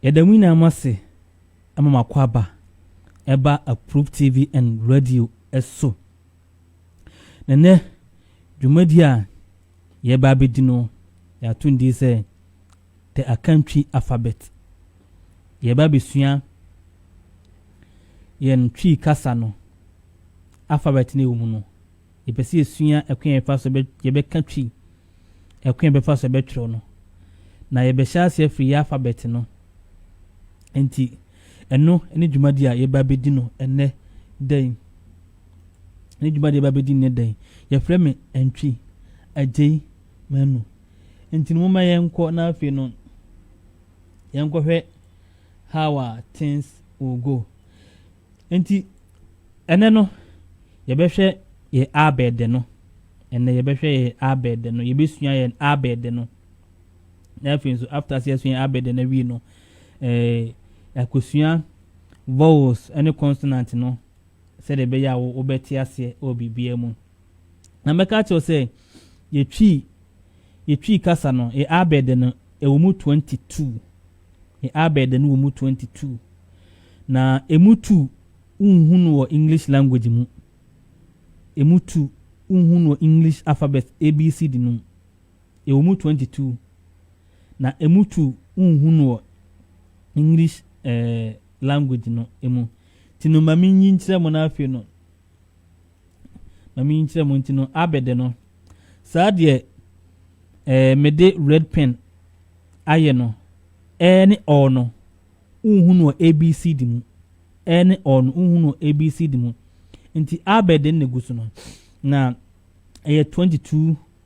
Yɛda mo nyinaa mo ase ma mo akwaaba ɛba Approve TV and radio so. Na nnɛ dwumadi a yɛba abɛdi no yɛato ndin sɛ the Akantwi alphabet. Yɛreba abɛsua yɛn Twi kasa no alphabet no ɛwɔ mu no, yɛpɛ sɛ yɛsua ɛkwan a yɛfa so yɛbɛka Twi, ɛkwan a yɛbɛfa so yɛbɛtwerɛ no. Na yɛbɛhyɛ ase afiri yɛ alphabet no. Nti, ɛno ne dwumadi a yɛba bɛdi no ɛnɛ da yi. Ne dwumadi a yɛba bɛdi nnɛ da yi, yɛfrɛ me Antwi Agyei Manu. Enti no momma yɛnkɔ na afei no yɛnkɔhwɛ how our things will go. Enti ɛnɛ no yɛbɛhwɛ yɛ abɛɛdɛ no. Ɛnɛ yɛbɛhwɛ yɛ abɛɛdɛ no. Yɛbɛsua yɛn abɛɛdɛ no. Na afei nso after sɛ yɛsua yɛn abɛɛdɛ no awie no ɛɛ akosua vowels ne consonant no sɛdeɛ ɛbɛyɛ a wobɛte aseɛ wɔ biribiara mu. Na mɛka akyerɛ sɛ. Yɛ Twi Yɛ Twi kasa no yɛ abɛɛdɛ no ɛwɔ mu 22 Yɛ abɛɛdɛ no wɔ mu 22 Na ɛmu tu wonhu no wɔ English language mu Ɛmu tu wonhu no wɔ English alphabet ABCD no mu Ɛwɔ mu 22 Na ɛmu tu wonhu no wɔ English eh, language no mu Ti no ma menyi nkyerɛ mo no afei no Ma me nkyerɛ mo nti no abɛde no saa deɛ ɛɛ eh, mede red pen ayɛ no ɛɛ eh, ne ɔɔ no wohu no abc di mu ɛɛ eh, ne ɔɔ no wohu no abc di mu nti abɛde no na gu so no na ɛyɛ 22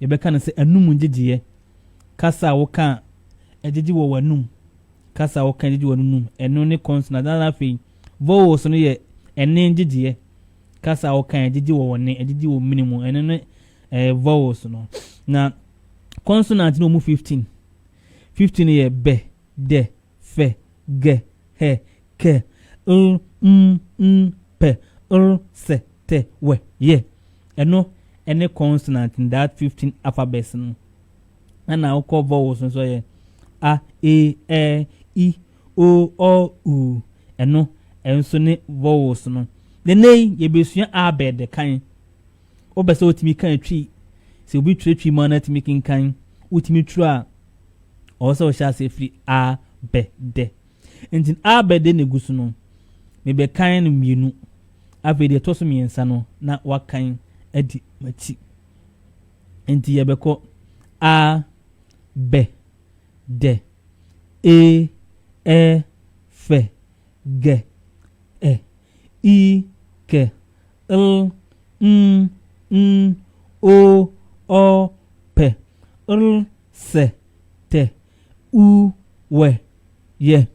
Yɛbɛka no sɛ anum ngyegyeɛ. Kasa a woka a ɛgyegye wɔ w'anum, kasa a woka a ɛgyegye wɔ w'anum, ɛno ne consonant. Na afei, vowels no yɛ ɛnne ngyegyeɛ. Kasa a woka a ɛgyegye wɔ w'nne, ɛgyegye wɔ mene mu, ɛno ne eh, vowels no. Na consonant no wɔ mu 15. 15 no yɛ bɛ, dɛ, fɛ, gɛ, hɛ, kɛ, l, m, n, pɛ, r, sɛ, tɛ, wɛ, yɛ. Ɛno ne consonant in that 15 alphabets no. Ɛna wokɔ vowels nso yɛ a, e, ɛ, i, o, ɔ, u. Ɛno nso ne vowels no. Nene yi yɛbɛsua abɛ de kan. Wobɛ sɛ wotumi kan twi. Sɛ obi twerɛ twi mu a na atumi kenkan. Wotumi twerɛ a ɔwɔ sɛ ɔhyɛ aseɛ firi a bɛ dɛ nti a bɛ dɛ na gu so no mebɛkan no mmienu afei deɛ ɛtɔ so mmiɛnsa no na wakan adi m'akyi nti yɛbɛkɔ a bɛ dɛ e ɛ fɛ gɛ ɛ i kɛ l n n o ɔ pɛ r Sɛ tɛ uu wɛ yɛ.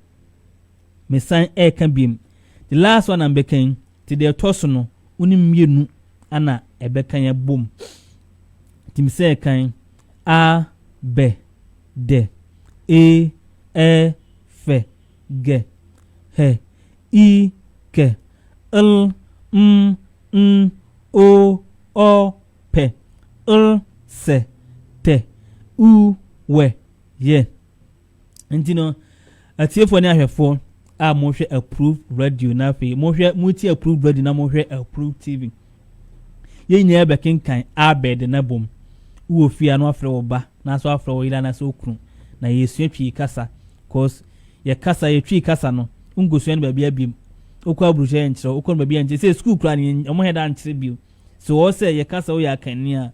Mesan ɛɛka biem. The last one na mbɛka yi nti deɛ ɛtɔ so no wo ne mmienu ana ɛbɛka yɛ bom nti mesɛ ɛkan a bɛ dɛ e ɛ fɛ gɛ hɛ i kɛ l m n o ɔ pɛ, ll, sɛ, tɛ, uu, wɛ, yɛ. Nti no, atiefoɔ ne ahwɛfoɔ a mohwɛ Approved Radio na afei mohwɛ motie Approved Radio na mohwɛ Approved TV. Yɛn nyinaa bɛkenkan Abed na bom. Wowɔ fie a na wafrɛ wo ba na so afrɛ wo yere anaasɛ wo kunu na yɛsua twi kasa cause yɛ kasa yɛ twi kasa no nkosua no baabi abiem wokɔ aburukyerɛ yɛnkyerɛ wokɔ no baabi yɛnkyerɛ sɛ sukuu koraa no wɔn hɛ da nkyerɛ bio So ɛwɔ hɔ sɛ yɛka sɛ woyɛ akanni a?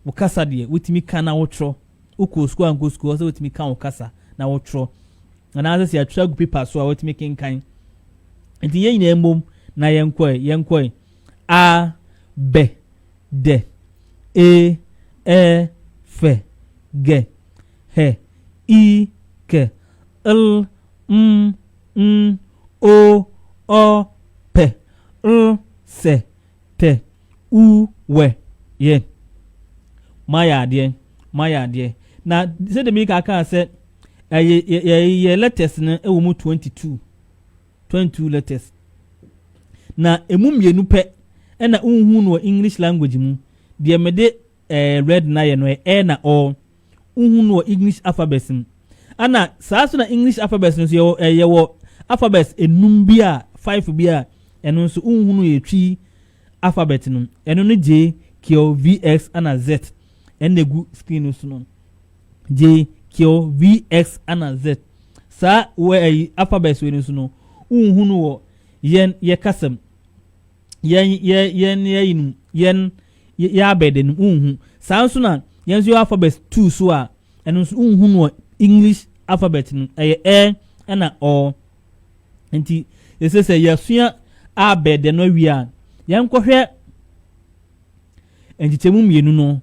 Wo kasa deɛ, wotumi ka na wotwerɛ. Wokɔɔ sukuu ankɔ sukuu, ɛwɔ sɛ wotumi ka wo kasa na wotwerɛ. Anaasɛ sɛ yɛatwerɛ agu pepa so a, wotumi kenkan. Nti yɛn nyinaa mmom na yɛnkɔe, yɛnkɔe. A, bɛ, dɛ, e, ɛ, fɛ, gɛ, hɛ, i, kɛ, l, m, n, o, ɔ, pɛ, l, sɛ, Tɛ uu wɛ yɛ. Moayɛ adeɛ, moayɛ adeɛ. Na sɛdeɛ meka akaa sɛ ɛyɛ yɛ- yɛ- yɛ letters no ɛwɔ mu 22 22 letters na ɛmu mmienu pɛ ɛna wohu no wɔ english language mu deɛ mede eh, red na yɛ no ɛ eh, na ɔ wohu no wɔ english alphabet mu ana saa so na english alphabet no nso yɛwɔ eh, yɛwɔ alphabet enum bi a five bi a ɛno nso wohu no yɛ twi alphabet no ɛno no gye kill vx ana z ɛna egu screen no so no gye kill vx ana z saa wɔ ɛyi eh, alphabet wɔ no so no wohu no wɔ yɛn yɛ kasam yɛn yɛ yɛn yɛ yɛn yɛn Yɛ yɛ abɛɛdɛ no wonhu. Saa nso na yɛn nso yɛwɔ alphabet two so a ɛno nso wonhu no wɔ English alphabet no ɛyɛ ɛ ɛna ɔ. Nti yɛsɛ sɛ yɛasua abɛɛdɛ no awie a yɛnkɔhwɛ nkyekyɛmu mmienu no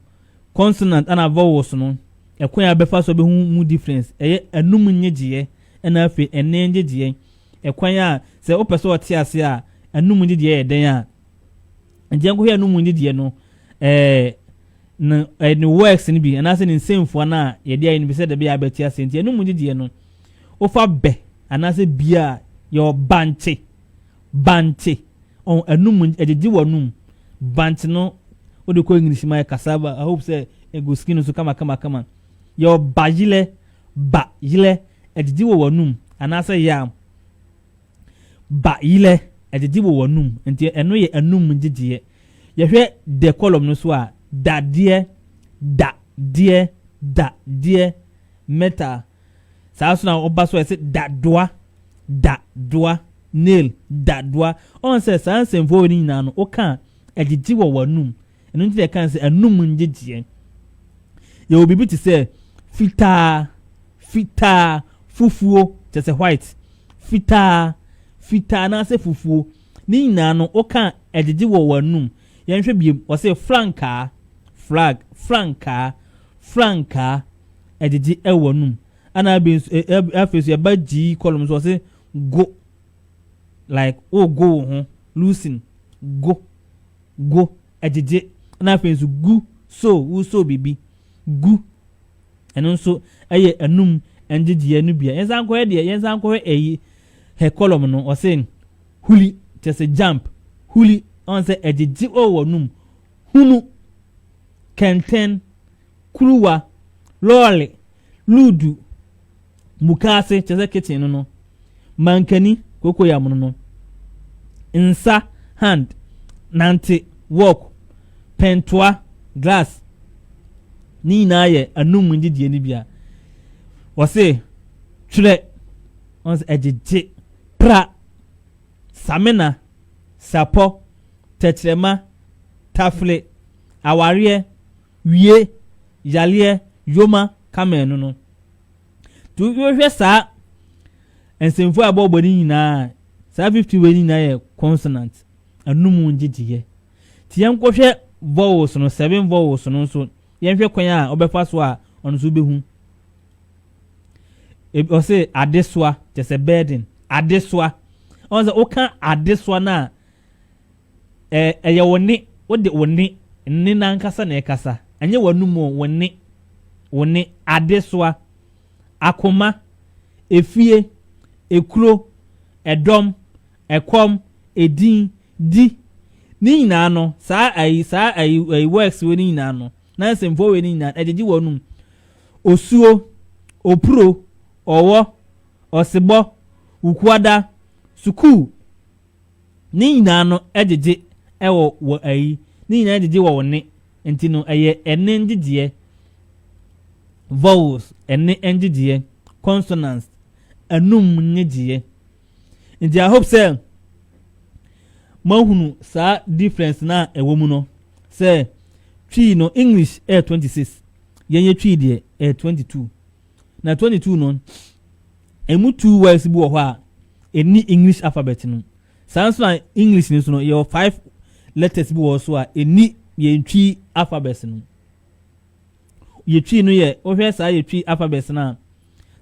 consonant ɛna vowels no ɛkwan a bɛfa so bɛhu mu difference ɛyɛ anum nnyegyeɛ ɛna afei ɛnne nnyegyeɛ ɛkwan a sɛ wopɛ sɛ ɔte ase a anum nnyegyeɛ yɛ dɛn a nti yɛn kɔhwɛ anum nyi deɛ no ɛɛ ne ɛɛ ne works no bi anaasɛ ne nsɛmfua no a yɛde ayɛ no bi sɛ dɛbi a abɛte ase nti anum nyi deɛ no wofa bɛ anaasɛ bia a yɛwɔ bankye bankye ɔn anum ɛgyegye wɔ anum bankye no wode kɔ english ma yɛ cassava i hope sɛ egu skin no so kama kama kama yɛwɔ bayilɛ bayilɛ ɛgyegye wɔ wɔ anum anaasɛ yam Ba yerɛ, ɛgyegye wɔ w'anom, nti ɛno yɛ anum ngyegyeɛ. Yɛhwɛ the column no so a, da deɛ, da deɛ, da deɛ, mɛta. Saa so na ɔba so a yɛse da doa, da doa, nail, da doa. Ɔn sɛ saa nsɛmfua wei no nyinaa no, woka a, ɛgyegye wɔ w'anum, Ɛno nti na yɛka sɛ anum ngyegyeɛ. Yɛwɔ biribi te sɛ fitaa, fitaa, fufuo, kyerɛ sɛ white, fitaa, fitaa anaasɛ fufuo. Ne nyinaa no, woka ɛgyegye wɔ w'anum. Yɛnhwɛ biem, wɔse frankaa, flag, frankaa, frankaa, ɛgyegye ɛwɔ w'anum. Ana abi nso, e, e, afei nso yɛba gyii kɔlɔm nso, wɔse go, like, wogo wo ho, loosen, go. go, gyegye, na afei nso gu, sow, wosow biribi gu. Ɛno nso yɛ anum ngyegyeɛ no bia. Yɛnsan nkɔhwɛ deɛ, yɛnsan nkɔhwɛ ɛyi, hɛ kɔlɔm no, ɔse huli, kyerɛ sɛ jump, huli, ɔn sɛ ɛgyegye wɔ wɔnum, hunu, kɛntɛn, kuruwa, lɔɔre, luudu, mukaase kyerɛ sɛ kitchen no no mankani kokoyam no no nsa hand nante walk pɛntoa glass ne nyinaa yɛ anum ngyegyeɛ no bia wɔse twerɛ wɔn sɛ ɛgyegye pra samina sapɔ tɛkyerɛma tafle awareɛ wie yareɛ yoma camel no no. Nti wohwɛ saa nsɛmfua a ɛbɔɔbɔ no nyinaa a, saa 50 wei no nyinaa yɛ consonant, anum ngyegyeeɛ. Nti yɛnkɔhwɛ vowels no, seven vowels no nso, yɛnhwɛ kwan a ɔbɛfa so a ɔno nso wobɛhu. Ɔse adesoa, kyɛ sɛ burden, adesoa. Ɔn sɛ woka adesoa no a, Ɛ, ɛyɛ wo nne, wo de, wo nne, nne no ankasa na ɛkasa. Ɛnyɛ w'anom o, wo nne, wo nne. Adesoa, akoma, efie, ekuro, ɛdɔm, ɛkɔm, edin, di, ne nyinaa no, saa ayi, saa ayi, ayi works wei no nyinaa no, na nsɛmfua wei no nyinaa, ɛgyegye w'anom. Osuo, opuro, ɔwɔ, ɔsebɔ, wukuada, sukuu, Ne nyinaa no gyegye wɔ wɔ ayi, ne nyinaa gyegye wɔ wo ne, nti no ɛyɛ ɛne ngyegyeɛ, vowels, ɛne ngyegyeɛ, consonants, anum ngyegyeɛ. Nti I hope sɛ moahunu saa difference no a ɛwɔ mu no, sɛ Twi no English ɛyɛ 26, yɛn yɛ Twi deɛ ɛyɛ 22. na 22 no, ɛmu two words bi wɔ hɔ a ɛni English alphabet no. Saa nso na English no so no, yɛwɔ five letters bi wɔ so a ɛni yɛn twi alphabet no. Yɛ twi no yɛ, wohwɛ saa yɛ twi alphabet no a,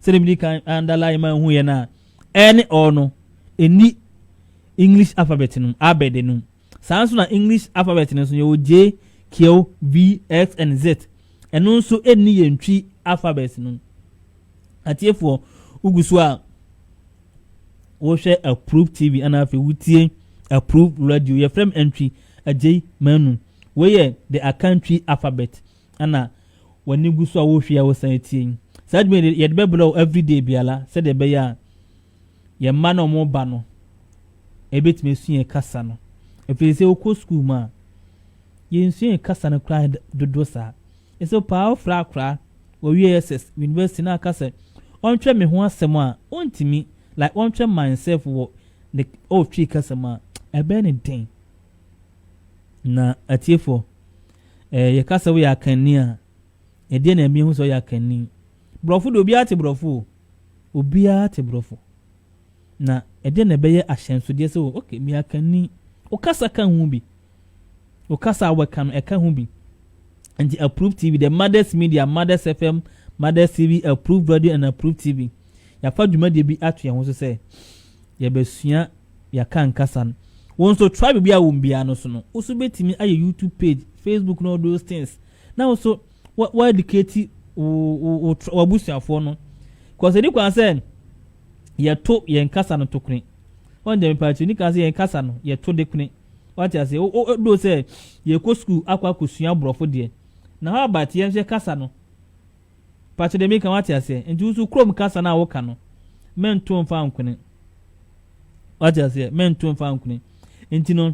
sɛdeɛ medi kan underline ma hu yɛ no a, ɛne ɔ no, ɛni English alphabet no, abɛde no. Saa ara nso na English alphabet no nso yɛwɔ J, Q, V, X and Z. Ɛno nso ɛnni yɛn Twi alphabet no. Atiefoɔ, wogu so a wohwɛ Approve TV ana afei wotie Approve Radio. Yɛfrɛ m Antwi Agyei Manu. Wei yɛ the Akantwi alphabet ana w'ani gu so a wohwɛ a wosan atie. Saa dwuma yɛde bɛbrɛ wo everyday biara sɛdeɛ ɛbɛyɛ a Yɛn mma no a wɔreba no, yɛbɛtumi asua yɛn kasa no. Ɛfiri sɛ wokɔ sukuu mu a, yɛnsua yɛn kasa no koraa dodoɔ saa. Ɛsɛ paa wofrɛ akora wɔwie SS university na aka sɛ ɔntwerɛ me ho asɛm a ɔntumi like ɔntwerɛ myself wɔ ne ɔretwi kasa mu a ɛbɛyɛ ne den. Na atiefoɔ ɛɛ yɛka sɛ woyɛ akanni a Ɛdeɛ na ɛma yɛhu sɛ ɔyɛ akanni? Borɔfo de, obiara te borɔfo o. Obiara te borɔfo. Na ɛdeɛ na ɛbɛyɛ ahyɛnsodeɛ sɛ, oh, okay, meyɛ akanni. Wo kasa ka ho bi. Wo kasa a wɔka no, ɛka ho bi. Nti Approve TV, the Mothers Media, Mothers FM, Mothers TV, Approve Radio and Approve TV. Yɛafa dwumadie bi ato yɛn ho so sɛ yɛbɛsua yɛaka nkasa no. Wɔn nso tribe bi a wɔn biara no so no, woso bɛtumi ayɛ YouTube page, Facebook, no all those things. na wo nso wa educate wo w'abusuafoɔ no kɔsɛ ni kwan sɛ yɛto yɛn kasa no to kone wɔn deɛ mepa akyiri ni kwan sɛ yɛn kasa no yɛto de kone wate ase o o do sɛ yɛkɔ sukuu akɔ akɔsua borɔfo deɛ na hɔ abat yɛn nso yɛ kasa no pakyɛ deɛ meka wate aseɛ nti woso kurom kasa no a woka no mɛnto mfa nkone wate aseɛ mɛnto mfa nkone nti no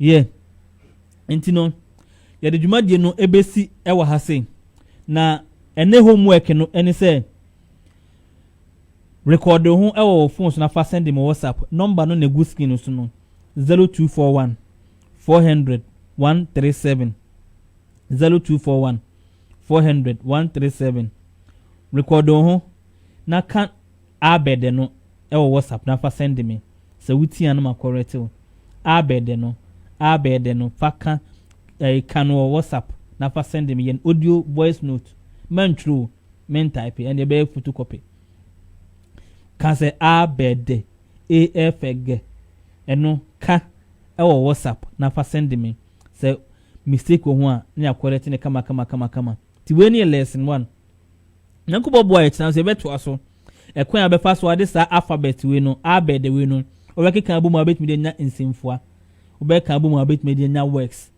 Yɛ. Nti no, yɛde dwumadie no bɛsi wɔ ha sei. Na ɛnɛ homework no ne sɛ rekɔɔde ho wɔ wɔ phone so na fa sɛnde mo WhatsApp. Nɔmba no na ɛgu screen no so no, 0241 400 137. 0241 400 137. Rekɔɔde wo ho na ka Abɛɛdɛ no wɔ WhatsApp na fa sɛnde me, sɛ wo tia no ma kɔrɛte wo. Abɛɛdɛ no, abɛɛdɛ no, fa ka ɛɛ ka no wɔ WhatsApp na fa sɛnde me, yɛ no audio voice note, mɛntwerɛ o, mɛntaepe, ɛnneɛ ɛbɛyɛ photocopy. Ka sɛ abɛɛdɛ, AFG, ɛno ka wɔ WhatsApp na fa sɛnde me, sɛ mistake wɔ ho a na yɛakɔrɛte no kama kama kama kama. Nti wei ne yɛ lesson one, Nyankopɔn boa yɛ tena so yɛbɛtoa so ɛkwan a bɛfa so ade saa alphabet wei no abed wei no wɔbɛkeka abom a wobɛtumi de anya nsɛmfua wobɛka abom a wobɛtumi de anya works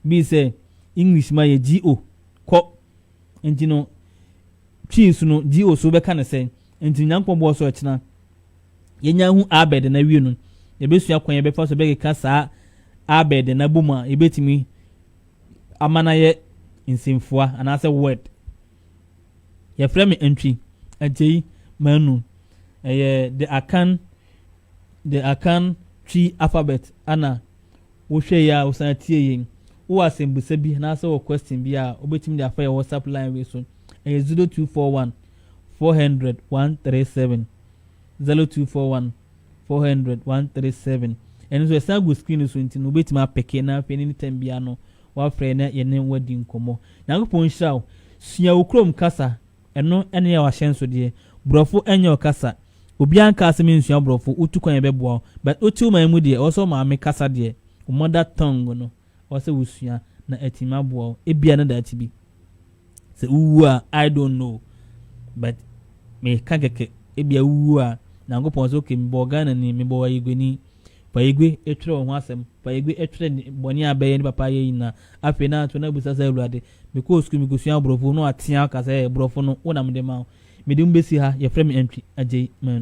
bi sɛ English ma yɛ GO kɔ nti no twi so no GO so wobɛka ne sɛ nti Nyankopɔn boa so ɛkyena yɛnya hu abed na wie no yɛbɛsua kwan yɛbɛfa so bɛkeka saa abed na abom a yɛbɛtumi ama no ayɛ nsɛmfua anaasɛ word yɛfrɛ me ntwi agyei manu ɛyɛ the akan the akan twi alphabet ana wohwɛ yi a wosan tie yɛn wowɔ asɛmbusa bi anaasɛ wɔ question bi a wobɛtumi de afa yɛ whatsapp line wei so ɛyɛ 0241 400 137 0241 Four hundred, one three seven, Ɛno nso ɛsan gu screen no so nti no wobɛtumi apeke na afei any time biara no woafrɛ na yɛne wo adi nkɔmmɔ. Nyankopɔn nhyira wo. Sua wo kurom kasa. Ɛno ne yɛ w'ahyɛnsodeɛ. Borɔfo nyɛ wo kasa. Obiara nkaa sɛ mensua Borɔfo, wotu kwan a yɛbɛboa wo. But wote wo man mu deɛ, ɛwɔ sɛ wo maame kasa deɛ, wo mother tongue no. ɛwɔ sɛ wusua na atumi aboa wo. Ebia na daakye bi sɛ wuwu a, I don't know, but meka kɛkɛ, ebia wuwu a, Nyankopɔn sɛ, okay, mebɔɔ Ghanani, mebɔɔ Ayigueni. Pa Ayigue twerɛ wo ho asɛm. Pa Ayigue twerɛ bɔne a bɛyɛ ne papa yɛ nyinaa. Afei na to na bisa sɛ, Awurade, mekɔɔ sukuu, mekɔsua Borɔfo, na wɔatea aka sɛ, Borɔfo no, wo na mede ma wo. Mede mo bɛsi ha, yɛfrɛ me Antwi Agyei Manu.